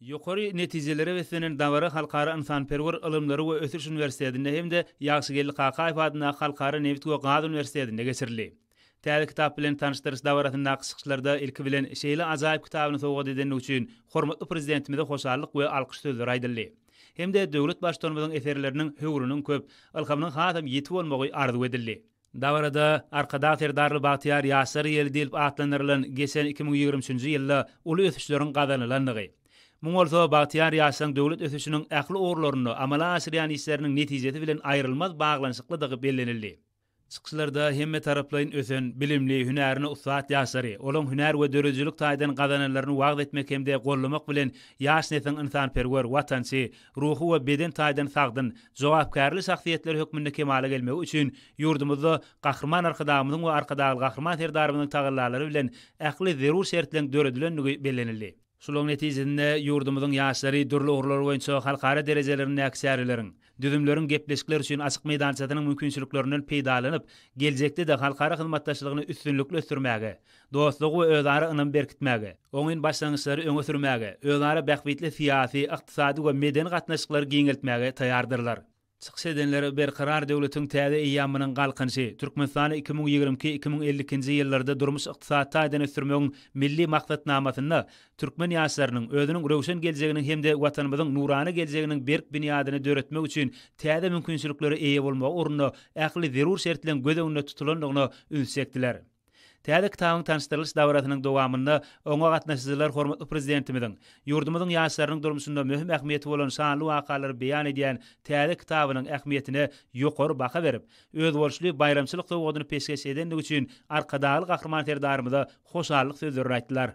Ýokary netijelere beslenen dabara Halkara ynsanperwer ylymlary we ösüş uniwersitetinde hem-de Ýagşygeldi Kakaýew adyndaky Halkara nebit we gaz uniwersitetinde geçirildi. Täze kitap bilen tanyşdyryş dabarasyndaky çykyşlarda ilki bilen şeýle ajaýyp kitabyny sowgat edenligi üçin hormatly Prezidentimize hoşallyk we alkyş sözleri aýdyldy hem-de döwlet Baştutanymyzyň eserleriniň höwrüniň köp, ylhamynyň hasam ýiti bolmagy arzuw edildi. Dabarada Arkadag Serdarly bagtyýar ýaşlar ýeli diýlip atlandyrylan geçen iki müň ýigrimi üçünji ýylda uly ösüşleriň gazanylandygy, muň bolsa bagtyýar ýaşlaryň döwlet ösüşiniň ähli ugurlarynda amala aşyrýan işleriniň netijesi bilen aýrylmaz baglanyşyklydygy bellenildi. Çykyşlarda hemmetaraplaýyn ösen, bilimli, hünärine ussat ýaşlary, olaryň hünär we döredijilik taýdan gazananlaryny wagyz etmek hem-de gollamak bilen, ýaş nesliň ynsanperwer, watançy, ruhy we beden taýdan sagdyn, jogapkärli şahsyýetler hökmünde kemala gelmegi üçin ýurdumyzda Gahryman Arkadagymyzyň we Arkadagly Gahryman Serdarymyzyň tagallalary bilen ähli zerur şertleň döredilendigi bellenildi. Şularyň netijesinde ýurdumyzyň ýaşlary dürli ugurlar boýunça halkara derejelerindäki çäreleriň, düzümleriň, gepleşikler üçin açyk meýdançasynyň mümkinçiliklerinden peýdalanyp, geljekde-de halkara hyzmatdaşlygyny üstünlikli ösdürmäge, dostlugy we özara ynamy berkitmäge, oňyn başlangyçlary öňe sürmäge, özara bähbitli syýasy, ykdysady we medeni gatnaşyklary giňeltmäge taýýardyrlar. Çykyş edenler Berkarar döwletiň täze eýýamynyň Galkynyşy, Türkmenistany iki müň ýigrimi iki, iki müň elli ikinji ýyllarda durmuş-ykdysady taýdan ösdürmegiň Milli maksatnamasynda türkmen ýaşlarynyň özüniň röwşen geljeginiň hem-de Watanymyzyň nurana geljeginiň berk binýadyny döretmek üçin täze mümkinçiliklere eýe bolmagy ugrunda ähli zerur şertleň göz öňünde tutulandygyna üns çekdiler. Täze kitabyň tanyşdyrylyş dabarasynyň dowamynda oňa gatnaşyjylar hormatly Prezidentimiziň ýurdumyzyň ýaşlarynyň durmuşynda möhüm ähmiýeti bolan şanly wakalary beýan edýän täze kitabynyň ähmiýetine ýokary baha berip, özboluşly baýramçylyk sowgadyny peşgeş edendigi üçin Arkadagly Gahryman Serdarymyza hoşallyk sözlerini aýtdylar.